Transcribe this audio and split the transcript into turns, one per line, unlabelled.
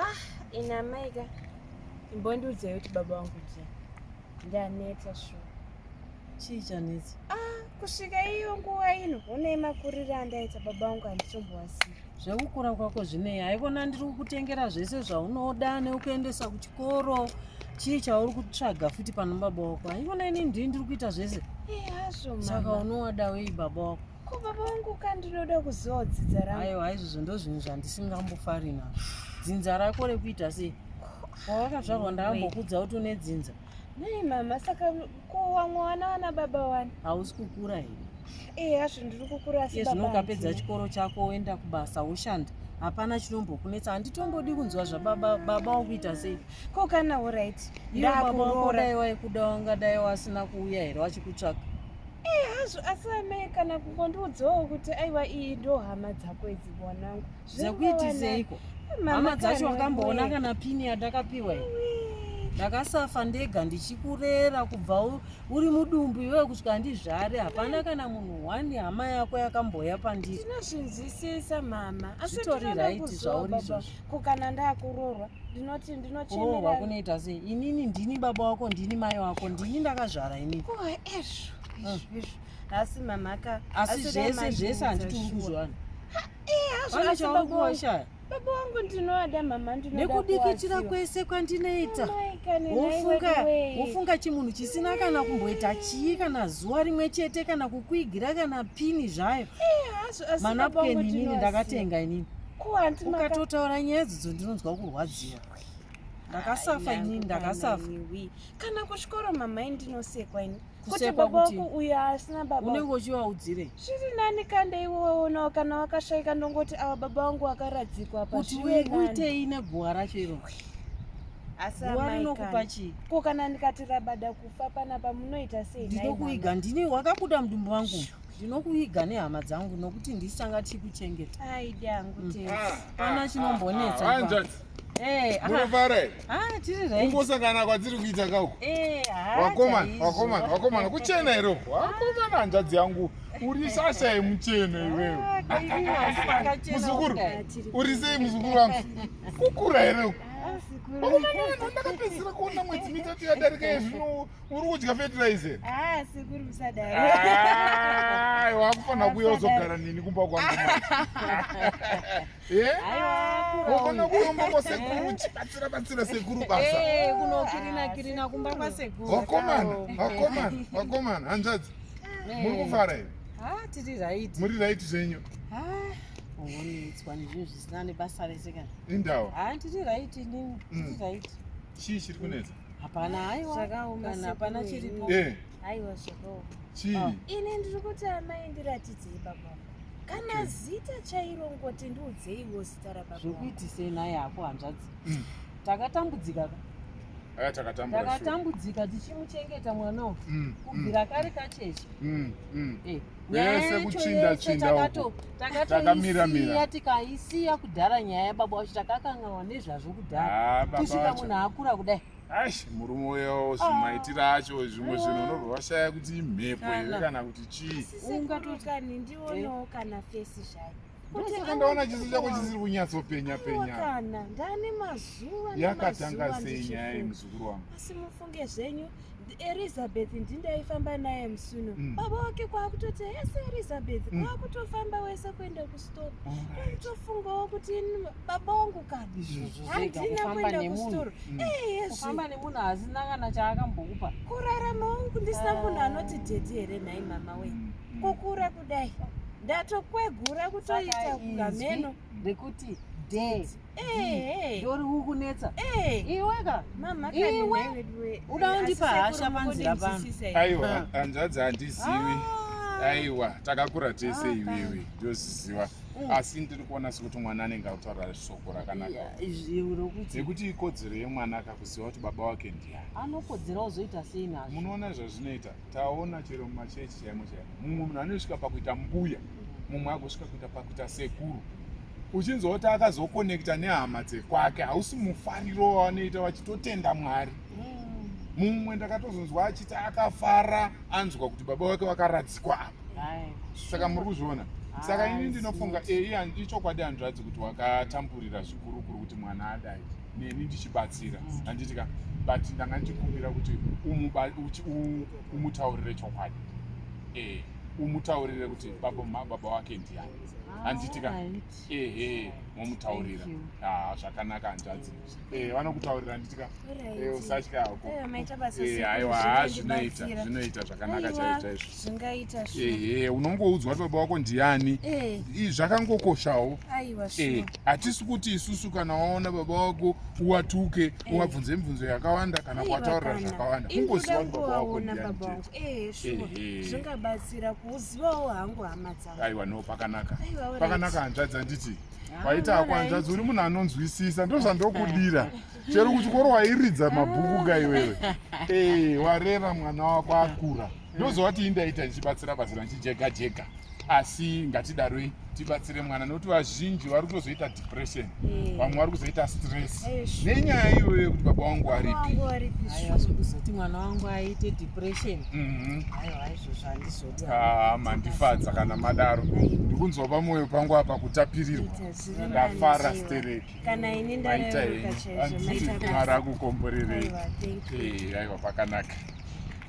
ah ina amai ka imbondiudzai kuti baba wangu je ndaneta shuwa chii
chanetsa ah kusvika
iyo nguva ino une makurire andaita baba wangu handichomboasiya zvekukura kwako
zvinei haikona ndiri kukutengera zvese zvaunoda nekukuendesa kuchikoro chii chauri kutsvaga futi pano baba wako haikona ini ndii ndiri kuita zvese eh,
saka unowada wei
baba wako Ko baba vangu ka
ndinoda kuzodzidza rangu. Ayo haizvozvo ndozvinhu
zvandisingambofari nazvo. Dzinza rako rekuita sei? Pawakazvarwa ndakambokudza kuti une dzinza. Nei mama
saka kuwamwa wana wana baba wani? Hausi kukura here?
Eh hazvo ndiri kukura
asi baba. Ezvino ukapedza chikoro chako
woenda kubasa woshanda. hapana chinombokunetsa handitongodi kunzwa zvababa baba wakuita sei ko kana orit
iwe baba wakodai
waikuda wangadai wasina kuuya here wachikutsvaka Eh hazvo
asi amai kana kungondiudzawo kuti aiwa iyi ndo hama dzako idzi mwanangu. Zvakuitiseiko?
Hama dzacho wakamboona kana pini yandakapiwa iyo. Ndakasafa ndega ndichikurera kubva uri mudumbu iwe kutya ndizvare hapana kana munhu one hama yako yakamboya pandiri. Ndinozvinzwisisa
mama. Asi tori right
zvauri izvozvo. ko kana ndakurorwa
ndinoti ndinochemerwa oh, kunoita
sei inini ndini baba wako ndini mai wako ndini ndakazvara inini oh, ezvo mm. izvo
asi mamhaka asi zvese
zvese handiti uri kuzvana pane chaurikuoshaya baba wangu
ndinoada mama ndinekudikitira kwese
kwandinoita wofunga wofunga chimunhu chisina kana kumboita chii kana zuva rimwe chete kana kukwigira kana pini zvayo eh, manapukeni inini ndakatenga inini ukatotaura nyaya dzidzo ndinonzwa kurwadziwa ndakasafa ini ndakasafa kana
kuchikoro mamai ndinosekwa ini kuti baba wako
uyo asina baba
unenge uchiwaudzirei
zviri nani kanda
iwe waonawo kana wakashaika ndongoti awa baba wangu wakaradzikwa apa kuti uitei
neguva racho iro asi rinokupa chii ko kana ndikati
rabada kufa panapa munoita sei ndinokuiga ndini
wakabuda mudumbu wangu Shoo. ndinokuviga nehama dzangu nokuti ndisu tanga tichikuchengeta aidi angu mm. tese
ah, pana ah, chinombonetsa
ah, eh, tiri
rkungosangana
kwadziri kuita
kauko eh, wakomana wakomana wakomana kuchena here uko wakomana hanzvadzi yangu uri shasha yemucheno iwewe muzukuru uri sei muzukuru wangu kukura here uko wakomana ndakapedzisira kuona mwedzi mitatu yadarika yezvino uri kudya fertilizer ah
sekuru musadaro ah wakufanira kuya uzogara
nini kumba kwangu eh wofana kuromba kwa sekuru chibatsira batsira sekuru basa eh kunokirina kirina
kumba kwa sekuru wakomana wakomana wakomana
hanzvadzi eh. muri kufara here ah tiri right
muri right zvenyu
ah
ungonetswa nezvinhu zvisina nebasa rese kana indawa ah tiri
right nini tiri
mm. right Chii chiri kunetsa?
Hapana haiwa.
Zvakaoma kana hapana chiripo. Eh. Haiwa zvakaoma.
Chii? Oh. Ini
ndiri kuti
amai ndiratidzei baba. Kana okay. zita chairo ngoti ndiudzei wo zita rababa. Zvokuitisei naye
hako hanzvadzi. Mm. Takatambudzika ka. Aya takatambura. Takatambudzika tichimuchengeta mwana uyu. Mm. Kubvira mm. kare kacheche. Mm. Mm. Eh.
vese kuchinda chinda takamiramira
tikaisiya kudhara nyaya yababa wacho takakanganwa nezvazvo kudhara ah, kusvika munhu akura kudai aish murume uyo
zvimaitiro ah. acho zvimwe zvinhu unobva washaya kuti imhepo here kana kuti chii ungatoti kani
ndionawo kana fesi zvayo ndosaka ndaona
chiso chako chisiri kunyatsopenya penya kana
ndane mazuva yakatanga sei
nyaya yemuzukuru wangu asi mufunge zvenyu
elizabeth ndindaifamba naye musuno mm. baba wake kwaakutoti hese elizabeth mm. kwaakutofamba wese kuenda kustore aitofungawo kuti baba wangu kana handina kuenda kustore mm. ehezvifamba
nemunhu hazina kana chaakambokupa kurarama wangu
ndisina munhu anoti dhedhi here nhai mama wee mm. kukura kudai ndatokwegura kutoita kugameno rekuti
day mm. ndori kukunetsa iweka iwe uda undipa hasha panzira pano aiwa ah. hanzvadzi
handizivi ah. aiwa takakura tese ah, iwewe ndoziziva mm. asi ndiri kuona sekuti mwana anenge akutaura shoko rakanakaekuti ikodzero yemwana akakuziva kuti baba wake ndiyani anokodzera ozoita
sei nazvo munoona zvazvinoita
Taona chero mumachechi chaimo chaimo, mumwe munhu anosvika pakuita mbuya, mumwe agosvika kuita pakuita sekuru. Uchinzwa kuti akazokonekta nehama dzekwake, hausi mufariro wavanoita vachitotenda Mwari. Mm. Mumwe ndakatozonzwa achiti akafara anzwa kuti baba wake wakaradzikwa apa. Saka muri kuzviona saka ini ndinofunga eyi ichokwadi hanzvadzi kuti wakatamburira zvikurukuru kuti mwana adai neni ndichibatsira mm. handiti ka but ndanga ndichikumbira kuti umutaurire chokwadi eh, umutaurire kuti baba wake ndiyani ah, handiti ka ehe momutaurira ah, zvakanaka hanzvadzi eh, vanokutaurira handiti ka usatya hakoaiwa zvinoita zvinoita zvakanaka chaizvo zvingaita ehe unongoudzwa kuti baba wako ndiani eh. zvakangokoshawo eh, hatisi kuti isusu kana waona baba wako uwatuke eh. uwabvunze mibvunzo yakawanda kana kuwataurira zvakawanda kungoziva kuti baba wako ndianizvingabatsira
kuuzivawo hangu hama dzavo aiwa no pakanaka
pakanaka hanzvadzi handiti paita akwanzvadzi uri munhu anonzwisisa ndozvandokudira chero kuchikoro wairidza mabhuku ka iwewe eh, warera mwana wako akura ndozova tii ndaita ndichibatsira batsira ndichijega jega asi ngatidaroi tibatsire mwana nokuti vazhinji vari kutozoita depression eh. vamwe vari kuzoita stress eh, nenyaya iyoyo yekuti baba wangu aripikuzoti
mwana wangu aite depression mhm.
ah, mandifadza kana madaro ndikunzwa pamwoyo pangu apa kutapirirwa ndafara stereki kana ini ndararuka
chaizvo
maita
basa mara akukomborerei aiwa
pakanaka